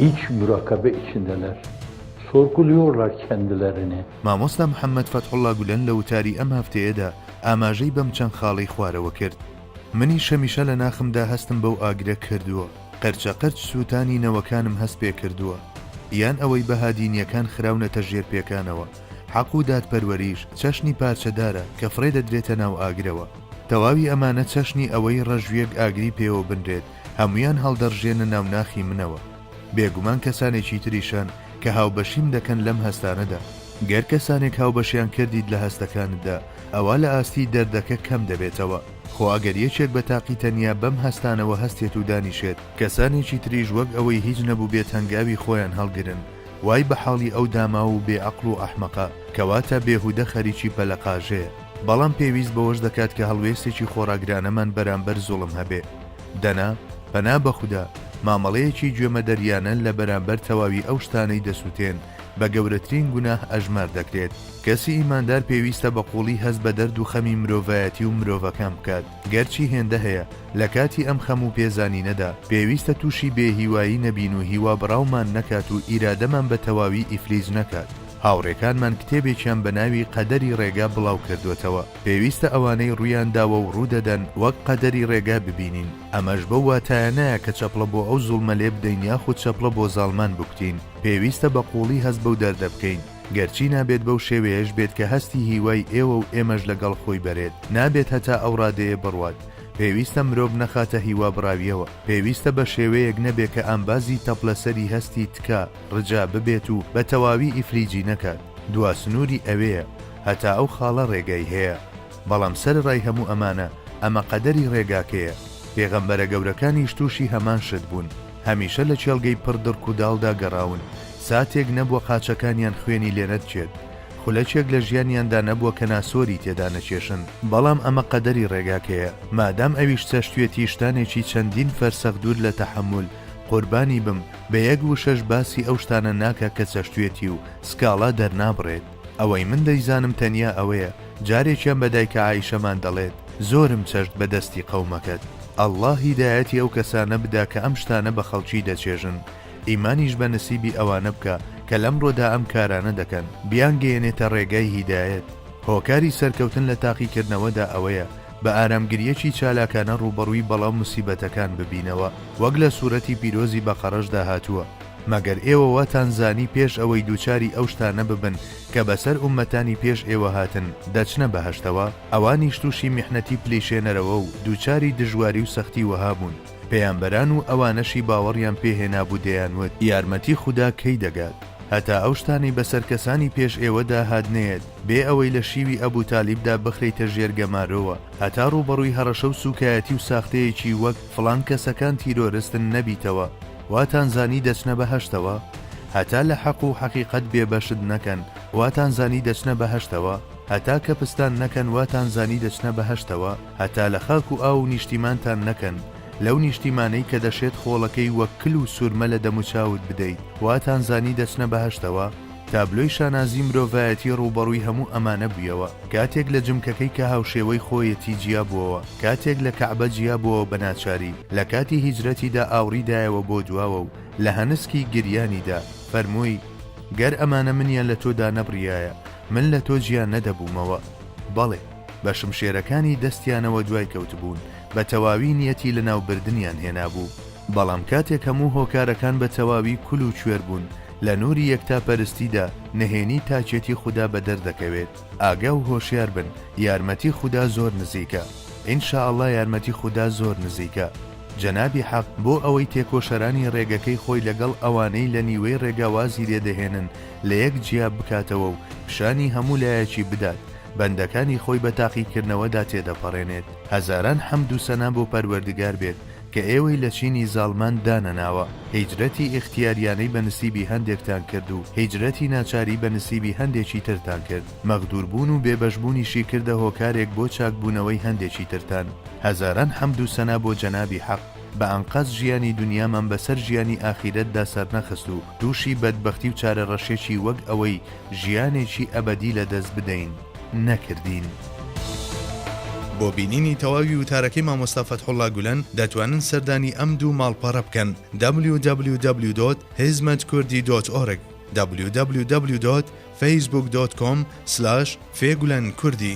هیچ مراکەبە ئیچندەلەر سۆرکول یۆرلار کەندلەرنێ. مامۆستا محەممەد فەتحوڵڵا گولەن لە وتاری ئەم هەفتەیەدا ئاماژەی بەم چەند خاڵەی خوارەوە کرد، منیش هەمیشە لە ناخمدا هەستم بەو ئاگرە کردووە، قەرچەقەرچ سووتانی نەوەکانم هەست پێ کردووە، یان ئەوەی بەها دینییەکان خراونەتە ژێر پێکانەوە. حەق و دادپەروەریش چەشنی پارچەدارە کە فڕێ دەدرێتە ناو ئاگرەوە. تەواوی ئەمانە چەشنی ئەوەی ڕەژویەک ئاگری پێوە بنرێت هەمویان هەڵدەڕژێنە ناو ناخی منەوە. بێگومان کەسانێکی تریش هەن کە هاوبەشیم دەکەن لەم هەستانەدا. گەر کەسانێک هاوبەشیان کردیت لە هەستەکانتدا ئەوا لە ئاستی دەردەکە کەم دەبێتەوە. خۆ ئەگەر یەکێک بە تاقی تەنیا بەم هەستانەوە هەستێت و دانیشێت، کەسانێکی تریش وەک ئەوەی هیچ نەبوبێت هەنگاوی خۆیان هەڵگرن. وای بە حاڵی ئەو داماو و بێ عەقڵ و ئەحمەقە کەواتە بێهودە خەریکی پەلە قاژەیە بەڵام پێویست بەوەش دەکات کە هەڵوێستێکی خۆڕاگرانەمان بەرامبەر زوڵم هەبێ دەنا پەنا بەخودا مامەڵەیەکی گوێمەدەریانە لە بەرامبەر تەواوی ئەو شتانەی دەسوتێن بە گەورەترین گوناه ئەژمار دەکرێت کەسی ئیماندار پێویستە بە قوڵی هەست بە دەرد و خەمی مرۆڤایەتی و مرۆڤەکان بکات. گەرچی هێندە هەیە لە کاتی ئەم خەم و پێزانینەدا پێویستە تووشی بێ هیوایی نەبین و هیوا بڕاومان نەکات و ئیرادەمان بە تەواوی ئیفلیج نەکات، هاوڕێکانمان کتێبێکیان بە ناوی قەدەری ڕێگا بڵاو کردووەتەوە، پێویستە ئەوانەی ڕوویان داوە و ڕوو دەدەن وەک قەدەری ڕێگا ببینین، ئەمەش بەو واتایە نایە کە چەپڵە بۆ ئەو زوڵمە لێ بدەین یاخود چەپڵە بۆ زاڵمان بکوتین، پێویستە بە قووڵی هەست بەو دەردە بکەین. گەرچی نابێت بەو شێوەیەش بێت کە هەستی هیوای ئێوە و ئێمەش لە گەڵ خۆی بەرێت، نابێت هەتا ئەو ڕادەیە بڕوات، پێویستە مرۆڤ نەخاتە هیوا بڕاویەوە، پێویستە بە شێوەیەک نەبێ کە ئامبازی تەپلە سەری هەستی تکا، ڕجا، ببێت و بە تەواوی ئیفلیجی نەکات، دوا سنووری ئەوێیە، هەتا ئەو خاڵە ڕێگای هەیە. بەڵام سەرەڕای هەموو ئەمانە، ئەمە قەدەری ڕێگاکەیە. پێغەمبەرە گەورەکانیش تووشی هەمان شت بوون. هەمیشە لە کێڵگەی پڕ دڕک و داڵدا گەڕاون، ساتێک نەبووە قاچەکانیان خوێنی لێ نەدچێت، خولەکێک لە ژیانیاندا نەبووە کە ناسۆری تێدا نەکێشن، بەڵام ئەمە قەدەری ڕێگاکەیە، مادام ئەویش چەشتوێتی شتانێکی چەندین فەرسەخ دوور لە تەحەمول، قوربانی بم، بە یەک وشەش باسی ئەو شتانە ناکا کە چەشتوێتی و سکاڵا دەرنابڕێت. ئەوەی من دەیزانم تەنیا ئەوەیە جارێکیان بە دایکە عائیشەمان دەڵێت زۆرم چەشت بە دەستی قەومەکەت اللە هیدایەتی ئەو کەسانە بدا کە ئەم شتانە بە خەڵکی دەچێژن ئیمانیش بە نسیبی ئەوانە بکە کە لەمڕۆدا ئەم کارانە دەکەن بیانگەیەنێتە ڕێگای هیدایەت هۆکاری سەرکەوتن لە تاقیکردنەوەدا ئەوەیە بە ئارامگرییەکی چالاکانە ڕووبەڕووی بەڵا و موسیبەتەکان ببینەوە وەک لە سورەتی پیرۆزی بەقەڕەشدا هاتووە. مەگەر ئێوە واتان زانی پێش ئەوەی دووچاری ئەو شتانە ببن کە بەسەر ئوممەتانی پێش ئێوە هاتن دەچنە بەهەشتەوە؟ ئەوانیش تووشی میحنەتی پلیشێنەرەوە و دووچاری دژواری و سەختی وەها بوون، پێیامبەران و ئەوانەشی باوەڕیان پێ هێنابوو دەیانوت، یارمەتی خودا کەی دەگات، هەتا ئەو شتانەی بەسەر کەسانی پێش ئێوەدا هات نەیەت، بێ ئەوەی لە شیوی ئەبوو تالیبدا بخرێیتە ژێر گەمارۆوە، هەتا ڕووبەڕووی هەڕەشە و سووکایەتی و ساختەیەکی وەک، فڵان کەسەکان تیرۆرستن، نەبیتەوە. واتان زانی دەچنە بەهەشتەوە؟ هەتا لە حەق و حەقیقەت بێ بەشت نەکەن واتان زانی دەچنە بەهەشتەوە؟ هەتا کەپستان نەکەن واتان زانی دەچنە بەهەشتەوە؟ هەتا لە خاک و ئاو و نیشتیمانتان نەکەن لەو نیشتیمانەی کە دەشێت خۆڵەکەی وەک کل و سورمە لە دەموچاوت بدەیت واتان زانی دەچنە بەهەشتەوە؟ تابلۆی شانازی مرۆڤایەتی ڕووبەڕووی هەموو ئەمانە بوویەوە، کاتێک لە جمکەکەی کە هاوشێوەی خۆیەتی جیابووەوە، کاتێک لە کەعبە جیابووەوە بە ناچاری لە کاتی هیجرەتیدا ئاوڕی دایەوە بۆ دواوە و لە هەنسکی گریانیدا فەرمووی، گەر ئەمانە منیان لە تۆ دانەبڕیایە، من لە تۆ جیا نەدەبوومەوە. بەڵێ، بە شمشێرەکانی دەستیانەوە دوای کەوتبوون، بە تەواوی نیەتی لەناوبردنیان هێنابوو. بەڵام کاتێک هەموو هۆکارەکان بە تەواوی کول و کوێر بوون، لە نوری یەکتاپەرستیدا نهێنی تاکێتی خودا بە دەر دەکەوێت. ئاگا و هۆشیار بن، یارمەتی خودا زۆر نزیکە. ان شاء اللە یارمەتی خودا زۆر نزیکە. جەنابی حەق بۆ ئەوەی تێکۆشەرانی ڕێگەکەی خۆی لەگەڵ ئەوانەی لە نیوەی ڕێگا وازی لێ دەهێنن لە یەک جیا بکاتەوە و پیشانی هەموو لایەکی بدات، بەندەکانی خۆی بە تاقیکردنەوەدا تێدەپەڕێنێت. هەزاران حەمد و سەنا بۆ پەروەردگار بێت کە ئێوەی لە چینی زاڵمان دانەناوە، هیجرەتی ئیختیاریانەی بە نسیبی هەندێکتان کرد و هیجرەتی ناچاری بە نسیبی هەندێکی ترتان کرد، مەغدوربوون و بێبەشبوونیشی کردە هۆکارێک بۆ چاکبوونەوەی هەندێکی ترتان. هەزاران حەمد و سەنا بۆ جەنابی حەق، بە ئەنقەست ژیانی دونیامان بەسەر ژیانی ئاخیرەتدا سەرنەخست و تووشی بەدبەختی و چارەڕەشێکی وەک ئەوەی ژیانێکی ئەبەدی لەدەست بدەین، نەکردین. بۆ بینینی تەواوی وتارەکەی مامۆستا فەتحوڵا گولەن دەتوانن سەردانی ئەم دوو ماڵپەڕە بکەن www.hizmetkurdî.org www.facebook.com/fgulenkurdî.